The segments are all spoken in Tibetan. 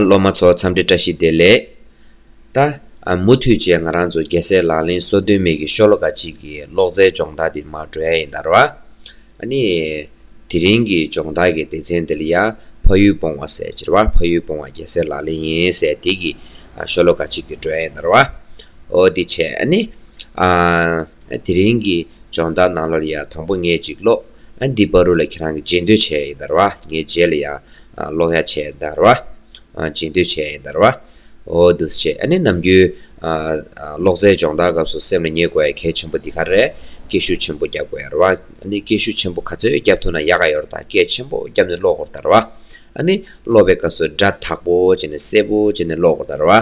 སློབ་མ་ཚོ་འཚམས་འདྲི་བཀྲ་ཤིས་བདེ་ལེགས། ད། མུ་མཐུད་བཅས་ང་རང་ཚོ་རྒྱལ་སྲས་ལག་ལེན་སོ་བདུན་མེད་ཀྱི་ཤོ་ལོ་ཀ་གཅིག་གི་ཀློག་རྩལ་སྦྱོང་བརྡར་འདི་མར་འགྲོ་ཡ་ཡིན་དར་བ། ཨ་ནི། དེ་རིང་གི་སྦྱོང་བརྡར་གྱི་སྡེ་ཚན་འདི་ལ་ཡ། ཕ་ཡུལ་སྤོང་བ་ཟེར་ཅེར་བ་ཕ་ཡུལ་སྤོང་བ་རྒྱལ་སྲས་ལག་ལེན་ཡིན་ཟེར་དེ་གི། ཤོ་ལོ་ཀ་གཅིག་གི་འགྲོ་ཡ་ཡིན་དར་བ། ཨོ་དེ་བྱས་ཨ་ནི། དེ་རིང་གི་སྦྱོང་བརྡར་ནང་ལོར་ཡ་དང་པོ་ངས་ཅིག་ཀློག། ཨ་འདི་པ་རུ་ལ་ཁྱེད་རང་གི་རྗེས་འདོད་བྱས་ཡིན་དར་བ་ངའི་རྗེས་ལ་ཡང་སློང་ཡ་བྱས་ཡིན་དར་བ་རྗེས་འདོད་བྱས་ཡིན་དར་བ་འོ་འདུག་བྱས་ཨ་ནི་ནམ་རྒྱུན་གློག་རྫས་སྦྱོང་བརྡར་སྐབས་སུ་སེམས་ལ་ངེས་དགོས་ཡ་གལ་ཆེན་པོ་འདི་ག་རེད་སྐད་ཤུགས་ཆེན་པོ་རྒྱབ་དགོས་ཡ་ར་བ་ཨ་ནི་སྐད་ཤུགས་ཆེན་པོ་ག་ཚོད་རྒྱབ་ཐུབ་ན་ཡག་ག་ཡོར་ད་སྐད་ཆེན་པོ་རྒྱབ་ནས་ཀློག་དགོར་དར་བ་ཨ་ནི་ཀློག་པའི་སྐབས་སུ་སྒྲ་དག་པོ་བྱས་ནས་གསལ་པོ་བྱས་ནས་ཀློག་དགོར་དར་བ།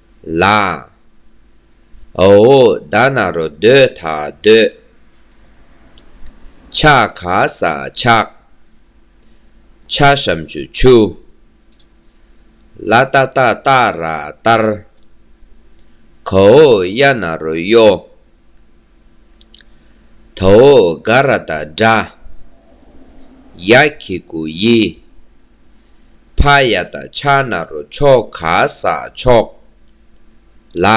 ལ། ཨོའོ་ད་ན་རོ་སྡོད་ད་སྡོད། ཆ་ག་ས་ཆག། ཆ་ཤམ་ཆུ་ཆུ། ལ་ཏ་ཏཱ་ཏཱ་ར་ཏར། གའོ་གཡའ་ན་རོ་གཡོ། དྭོགས་དགའ་ར་དང་འདྲ། ཡ་ཁི་གུ་ཡི། ཕ་ཡ་ད་ཆ་ན་རོ་ཆོག་ག་ས་ཆོག། ལ།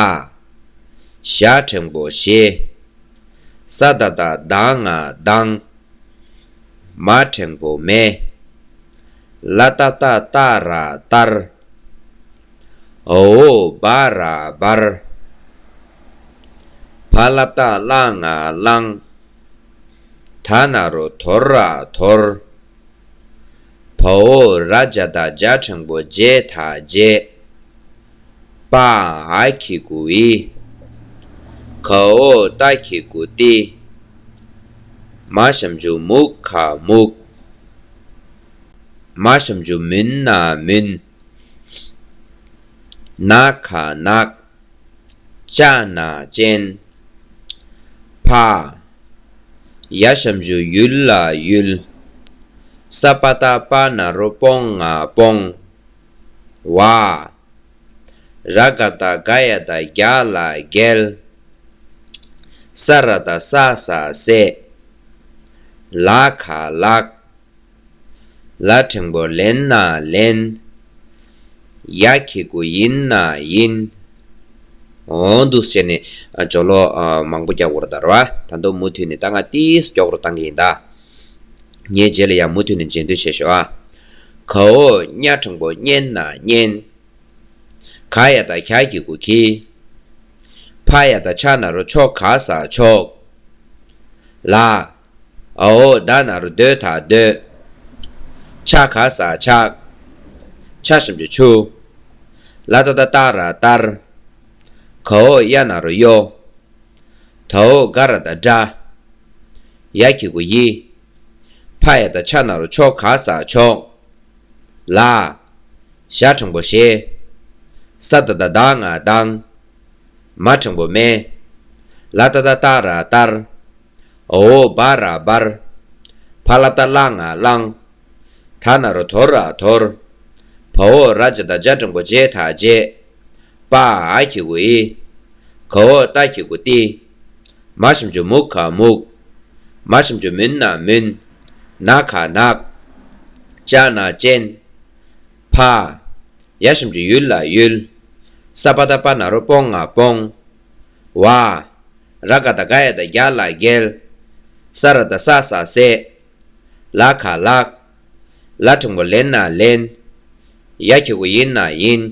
ཞ་ཕྲེང་པོ་ཞེ། ས་ད་ད་དང་ང་དང། མ་ཕྲེང་པོ་མེ། ལ་ཏབ་ཏ་ཏ་ར་ཏར། ཨོའོ་སྦ་ར་སྦར། བྷ་ལ་བཏགས་བླངས་ང་བླང། ད་ན་རོ་དོར་ར་དོར། བོའོ་ར་བརྒྱ་དག་བརྒྱ་དྲང་པོ་བརྒྱད་དག་བརྒྱད། པའང་ཨ་ཁི་གུ་ཨི། ཁའོ་ཏ་ཁི་གུ་ཏི། མ་ཞམ་ཇུ་མུག་ཁ་མུག། མ་བྱམས་རྒྱུ་མིན་ན་མིན། ན་ཁ་ནག། ལྕགས་ན་ཅན། ཕ། ཡ་བྱམས་རྒྱུ་ཡུལ་ལ་ཡུལ། ས་པ་ད་པ་ན་རོ་སྤོང་ང་སྤོང། བ། ར་ག་ད་ག་ཡ་ད་རྒྱ་ལ་རྒྱལ། ས་ར་ད་ས་ས་སྲས། ལ་ཁ་ལག། ལ་ཕྲེང་བོར་ལེན་ན་ལེན། ཡ་ཁྱི་གུ་ཡིན་ན་ཡིན། འོང་འདུག་ཟེར་ནས་ཇོ་ལོ་མང་པོ་རྒྱག་འོར་དར་བ་ད་དུང་མུ་མཐུད་ནས་ད་ང་ཏིས་རྒྱོག་རུ་བཏང་གི་ཡིན་ད། ངའི་རྗེས་ལ་ཡང་མུ་མཐུད་ནས་མཇལ་འདོད་ཆེ་ཞོ་ཨ། གའོ་སྙ་ཕྲེང་བོ་སྙན་ན་སྙན། ག་ཡ་ད་གྱ་ཁྱི་གུ་ཁྱི། ཕ་ཡ་ད་ཕྱག་ན་རུ་ཕྱོགས་ག་ས་ཕྱོགས། ལ་ཨའོ་བདག་ན་རོ་སྡོད་དང་སྡོད། ཆགས་ག་ས་ཆགས། ཆགས་ཞིམ་གྱི་ཆུ། ལ་ད་ད་ཏར་ར་ཏར། གའོ་གཡའ་ན་རོ་གཡོ། དའོ་དགའ་ར་ད་དགྲ། ཡ་ཁྱི་གུ་ཡི། ཕ་ཡ་ད་ཆགས་ན་རོ་ཆོག་ག་ས་ཆོག། ལ། ཞག་ཕྲེང་པོ་ཞེ། ས་ད་ད་དག་ང་དང། མ་ཕྲེང་པོ་མེ། ལ་ད་ད་ཏར་ར་ཏར། ཨོའོ་སྦ་ར་སྦར། ཕ་ལ་ཏཱ་བླངས་ཨ་བླང། ཐ་ན་རོ་དོར་ར་དོར། བའོ་ར་ཇ་ད་ཇ་དྲང་པོ་བརྗེད་ཐག་བརྗེད། པ་ཨ་ཨ་ཁྱི་གུ་ཨི། ཁའོ་ཏ་ཁྱི་གུ་ཏི། མ་ཤམ་ཇུ་མུག་ཁ་མུག། མ་ཤམ་ཇུ་མུན་ན་མུན། ན་ཁ་ནག། ཅ་ན་ཅན། ཕ་ཨ་ཡ་ཤམ་ཇུ་ཡུལ་ལ་ཡུལ། སཱ་པ་ད་པ་ན་རོ་སྤོང་ཨ་སྤོང། བ། ར་ཀ་ད་ཀ་ཡ་ད་རྒྱ་ལ་རྒྱལ། ས་ར་ད་ས་ས་སྲས། ལ་ཁ་ལགས། ལ་ཕྲེང་བ་ལེན་ན་ལེན། ཡ་ཁྱི་གུ་ཡིན་ན་ཡིན།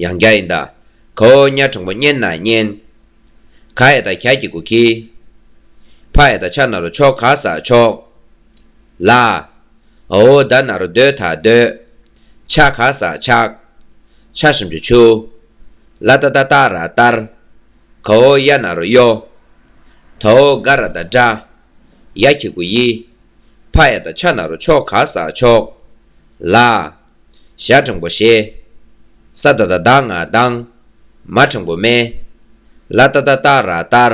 ཡང་རྒྱ་ཡིན་ད་ཁ་ཨོ་ཉག་ཕྲེང་བ་བསྙེན་ན་བསྙེན། ཁ་ཡ་ད་ཁྱ་ཁྱི་གུ་ཁྱི། ཕ་ཡ་ད་ཕྱག་ན་རོ་ཕྱོགས་ག་ས་ཕྱོགས། ལ་ཨོ་ད་ན་རོ་སྡོད་ད་སྡོད། ཆགས་ག་ས་ཆགས། ཆགས་ཤམ་ཆུ་ཆུ། ལ་ཏཱ་ཏཱ་ཏཱ་ར་ཏར། གའོ་ཡ་ན་རོ་ཡོ། དའོ་ག་ར་ད་དྲ། ཡ་ཁྱི་གུ་ཡི། བྷ་ཡ་ད་ཆ་ན་རོ་ཆོ་ག་ས་ཆོག། ལ། ཞྭ་དྲང་པོ་ཞེ། ས་ད་ད་དང་ང་དང། མ་དྲང་པོ་མེ། ལ་ཏཱ་ཏཱ་ཏཱ་ར་ཏར།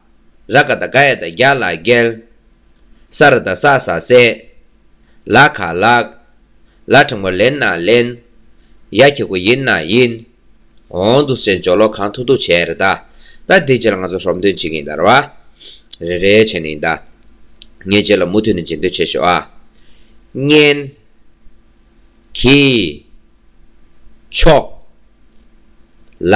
ར་ཀ་དང་ག་ཡ་དང་རྒྱ་ལ་རྒལ། ས་ར་དང་ས་ས་སེ། ལ་ཁ་ལག། ལ་དྲང་མོ་ལེན་ན་ལེན། ཡ་ཁྱི་གུ་ཡིན་ན་ཡིན། འོང་འདུག་ཟེར་འཇོག་ལོ་གང་ཐུག་ཐུག་བྱས་རེད་ད། ད་འདི་རྗེས་ལ་ང་ཚོ་ཧྲོབ་འདོན་བྱེད་ཀྱིན་ད་ར། རེད་རེད་བྱས་ནས་ཡིན་ད། ངས་རྗེས་ལ་མུ་མཐུད་ནས་འབྱེད་འདོད་བྱེད་ཤོག་ཨ། གཉན། གྱིས། ཆོག། ལ།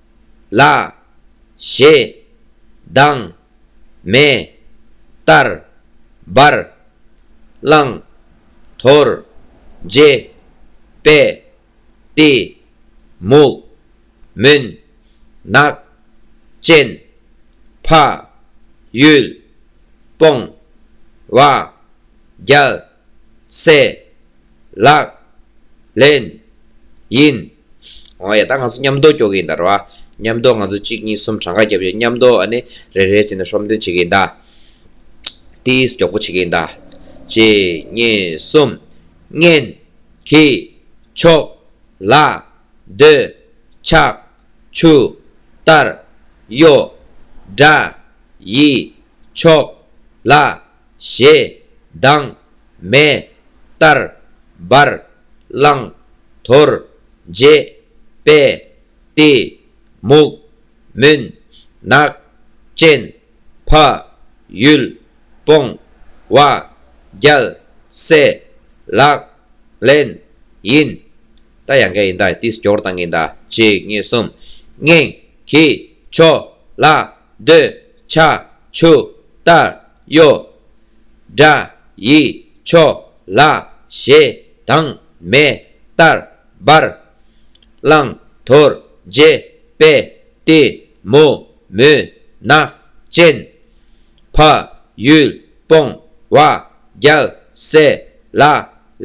ལ། ཞེས་སྡང། མེ། ལྟར། འབར། བླངས། དོར། འབྱེད། པས། ཏེ། མུག། མུན། ནག། ཅན། ཕ། ཡུལ། སྤོང། བ། རྒྱལ། སེ། ལག། ལེན། ཡིན། ཨོ་ཡ་ད་ང་ཚོ་མཉམ་འདོགས་སྐྱོ་གི་ཡིན་ད་རོ་ཨ། མཉམ་འདོགས་ང་ཚོ་གཅིག་གཉིས་གསུམ་གྲངས་ཀ་བརྒྱབ་ཡོད་མཉམ་འདོགས་ཨ་ནི་རེ་རེའི་ཚིག་ན་ཧྲོམ་སྟོན་བྱེད་གི་ཡིན་ད། ཏིས་མགྱོགས་པོ་བྱེད་གི་ཡིན་ད། གཅིག་གཉིས་གསུམ། ངན། གི། ཆོག། ལ། འདོད། ཆགས། ཆུ། ལྟར། གཡོ། འདྲ། ཡི། ཆོག། ལ། ཞེས། སྡང། མེད། ལྟར། འབར། བླང། དོར། འབྱེད། སྤེལ། བསྟི། མུག། མུན། ནག། རྐྱེན། ཕ། ཡུལ། སྤོང། བ། རྒྱལ། སྲས། ལག། ལེན། ཡིན། རྟ། ཡང་ག་ཡིན། ད། ཏིས། སྐྱོར། དང་གིན། ད། ཅིག། གཉིས། གསུམ། སྙིང། གིས། ཆོ། ལ། འདོད། བྱ། ཆུ། ལྟར། གཡོ། སྒྲ། ཡི། ཆོ། ལ། ཞེ། དང། མེ། ལྟར། འབར། བླང། དོར། རྗེ། པད། ཏི། མུ། མུན། ནག། ཅན། བ། ཡུལ། སྤོང། བ། རྒྱལ། སྲས། ལ།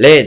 ལེན།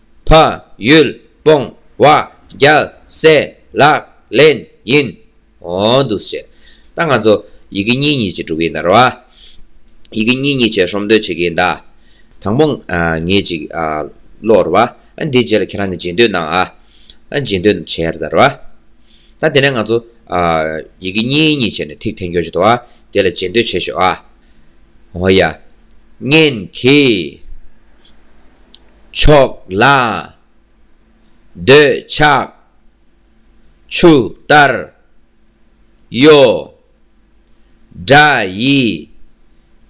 ཕ། ཡུལ། སྤོང། བ། རྒྱལ། སྲས། ལག། ལེན། ཡིན། འོང། འདུག་བཤད། ད་ང་ཚོ། ཡི་གེ་གཉིས་གཉིས་བྱེད་གྲུབ་ཡིན་ད་རོ། ཡི་གེ་གཉིས་གཉིས་བྱེད་ཧྲོམ་འདོད་བྱེད་ཀྱི་ཡིན་ད། དང་པོ། ངེད་ཅིག། ཀློག་རོ། འདིའི་རྗེས་ལ་ཁྱེད་རང་གི་འབྱེད་འདོད་གནང། འབྱེད་འདོད་བྱེད་ད་རོ། ད་དེ་ནས་ང་ཚོ། ཡི་གེ་གཉིས་གཉིས་བྱས་ནས་ཐིག་འཐེན་རྒྱོ་བྱེད་དོ། དེ་ལ་འབྱེད་འདོད་བྱེད་ཤོག། ཨོ་ཡ། ངན་གྱི། ཕྱོགས་ལ། འདོད་ཆགས། ཆུ་ལྟར། གཡོ། དགྲ་ཡི།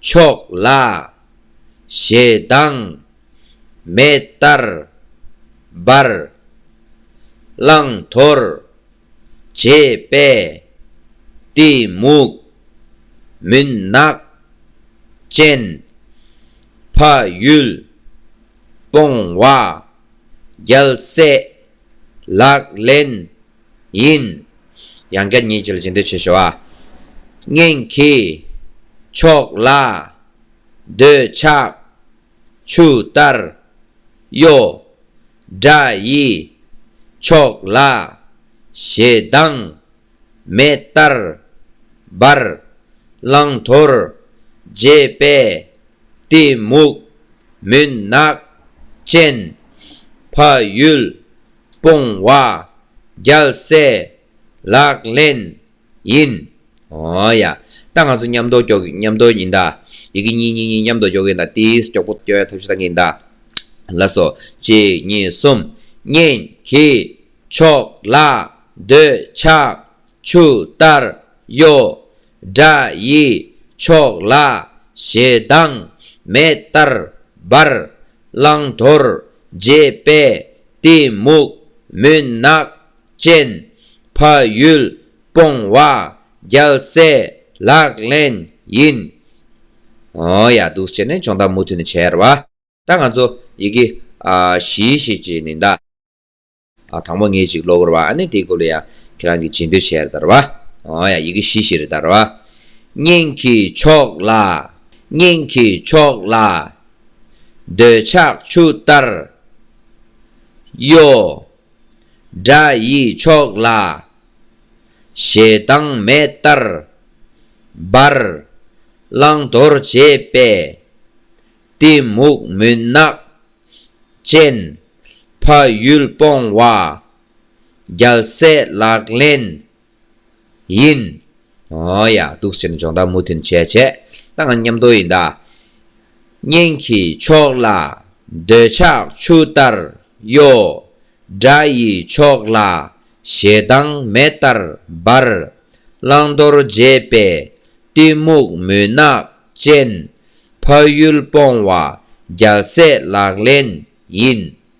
ཕྱོགས་ལ། ཞེ་སྡང། མེ་ལྟར། འབར། བླང་དོར། བྱས་པས། གཏི་མུག། མུན་ནག། ཅན། ཕ་ཡུལ། སྤོང་བ། རྒྱལ་སྲས། ལག་ལེན། ཡིན། ཡང་བསྐྱར་ཉིད་ཀྱི་ལ་བྱེད་འདོད་ཆེ་ཞོ། གཉེན་གྱི། ཕྱོགས་ལ། འདོད་ཆགས། ཆུ་ལྟར། གཡོ། དགྲ་ཡི། ཕྱོགས་ལ། ཞེ་སྡང། མེ་ལྟར། འབར། བླང་དོར། རྗེས་པས། གཏི་མུག། མུན་ནག། ཅན། ཕ་ཡུལ། སྤོང་བ། རྒྱལ་སྲས། ལག་ལེན། ཡིན། ཨོ་ཡ། ད་ང་ཚོ་མཉམ་མདོག་སྐྱོ་མཉམ་མདོག་ཡིན་ད། ཡི་གེ་གཉིས་གཉིས་གཉིས་མཉམ་མདོག་སྐྱོ་གིན་ད་ཏིས་སྐྱོ་པོ་སྐྱོ་ཡ་ཐབས་ཤེས་བཏང་གིན་ད། ལ་སོ། གཅིག་གཉིས་གསུམ། གཉེན། གྱི། ཕྱོགས། ལ། འདོད། ཆགས། ཆུ། ལྟར། གཡོ། སྒྲ། ཡི། ཕྱོགས། ལ། ཞེ་སྡང། མེད། ལྟར། འབར། བླང། དོར། རྗེས། པས། གཏི། མུག། མུན། ནག། ཅན། ཕ་ཡུལ་སྤོང་བ་རྒྱལ་སྲས་ལག་ལེན་ཡིན། ཨོ་ཡ་འདུག་ཅེས་ནས་སྦྱོང་བརྡར་མུ་མཐུད་ནས་བྱས་ར་བ། ད་ང་ཚོ་ཡི་གེ་བཞི་ཞིག་བྱས་ནས་གདའ། དང་པོ་ངེད་ཅིག་ཀློག་དགོས་ར་བ་ཨ་ནི་དེའི་སྐོར་ལ་ཡང་ཁྱེད་རང་གིས་བྱེད་འདོད་བྱས་ར་བ། ཨོ་ཡ་ཡི་གེ་བཞི་ཞིག་རེད་གདའ་ར་བ། སྙིང་གི་ཕྱོགས་ལ། སྙིང་གི་ཕྱོགས་ལ། འདོད་ཆགས་ཆུ་ལྟར། གཡོ། སྒྲ་ཡི་མཆོག་ལ་ཞེ་སྡང་མེད་ལྟར་འབར། བླང་དོར་བྱེད་པས་གཏི་མུག་མུན་ནག་ཅན། ཕ་ཡུལ་སྤོང་བ་རྒྱལ་སྲས་ལག་ལེན་ཡིན། ཨོ་ཡ། གདུག་སེམས་སྦྱོང་བརྡར་མུ་མཐུན་བྱས་བྱས་ད་ང་ཉམས་རྟོགས་ཡིན་ད། གཉེན་གྱི་ཕྱོགས་ལ་འདོད་ཆགས་ཆུ་ལྟར་གཡོ། དགྲ་ཡི་ཕྱོགས་ལ་ཞེ་སྡང་མེ་ལྟར་འབར། བླང་དོར་བརྗེད་པའི་གཏི་མུག་མུན་ནག་ཅན། ཕ་ཡུལ་སྤོང་བ་རྒྱལ་སྲས་ལག་ལེན་ཡིན།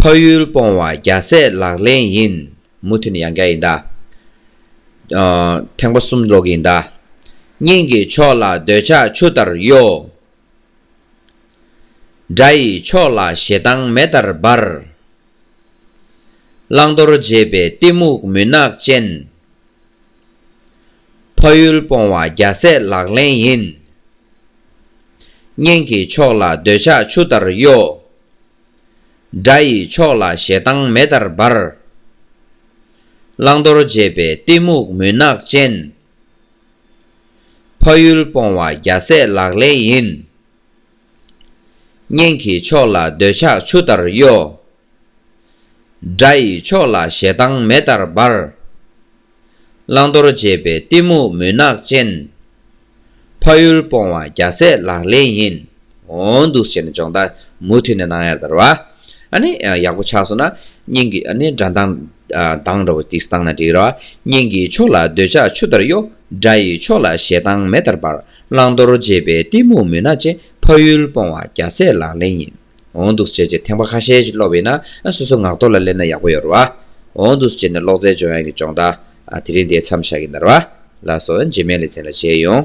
ཕ་ཡུལ་སྤོང་བ་རྒྱ་སྲས་ལག་ལེན་ཡིན། མུ་མཐུད་ནས་ཡང་བསྐྱར་ཡིན་ད། ཐེངས་པ་གསུམ་ལོག་གི་ཡིན་ད། སྙིང་གི་ཕྱོགས་ལ་འདོད་ཆགས་ཆུ་ལྟར་གཡོ། དགྲ་ཡི་ཕྱོགས་ལ་ཞེ་སྡང་མེ་ལྟར་འབར། བླང་དོར་འབྱེད་པའི་གཏི་མུག་མུན་ནག་ཅན། ཕ་ཡུལ་སྤོང་བ་རྒྱ་སྲས་ལག་ལེན་ཡིན། གཉེན་གྱི་ཕྱོགས་ལ་འདོད་ཆགས་ཆུ་ལྟར་གཡོ། དགྲ་ཡི་ཕྱོགས་ལ་ཞེ་སྡང་མེ་ལྟར་འབར། བླང་དོར་འབྱེད་པའི་གཏི་མུག་མུན་ནག་ཅན། ཕ་ཡུལ་སྤོང་བ་རྒྱ་སྲས་ལག་ལེན་ཡིན། གཉེན་གྱི་ཕྱོགས་ལ་འདོད་ཆགས་ཆུ་ལྟར་གཡོ། དགྲ་ཡི་ཕྱོགས་ལ་ཞེ་སྡང་མེ་ལྟར་འབར། བླང་དོར་འབྱེད་པའི་གཏི་མུག་མུན་ནག་ཅན། ཕ་ཡུལ་སྤོང་བ་རྒྱ་ཟས་ལག་ལེན་ཡིན། འོང་དུ་བྱེད་ནི་སྦྱོང་བརྡར་མུ་མཐུད་ནས་གནང་ཡར་དར་བ། ཨ་ནི་ཡག་པོ་ཆགས་སོང་ན་སྙིང་གི་ཨ་ནི་དགྲ་མདངས་མདངས་འདྲ་བོ་སྟིགས་སུ་བཏང་ན་འགྲིག་ར་བ། སྙིང་གི་ཕྱོགས་ལ་འདོད་ཆགས་ཆུ་ལྟར་གཡོ། དགྲ་ཡི་ཕྱོགས་ལ་ཞེ་སྡང་མེ་ལྟར་འབར། བླང་དོར་འབྱེད་པའི་གཏི་མུག་མུན་ནག་ཅན། ཕ་ཡུལ་སྤོང་བ་རྒྱ་ཟས་ལག་ལེན་ཡིན། འོང་འདུག་ཟེར་ཅེས་ཐེངས་པ་ཁ་ཤས་ཤིག་ཀློག་བས་ན་སོ་སོའི་ངག་ཐོག་ལ་སླེབས་ན་ཡག་པོ་ཡོད་རེད་བ། འོང་འདུག་ཟེར་ནས་ཀློག་རྩལ་སྦྱོང་ཡག་གི་སྦྱོང་བརྡ། དེ་རིང་འདིའི་མཚམས་བཞག་གི་འདར་བ། ལགས་སོ་འཇིགས་མེད་ལས་ཚན་ལ་མཇལ་ཡོང།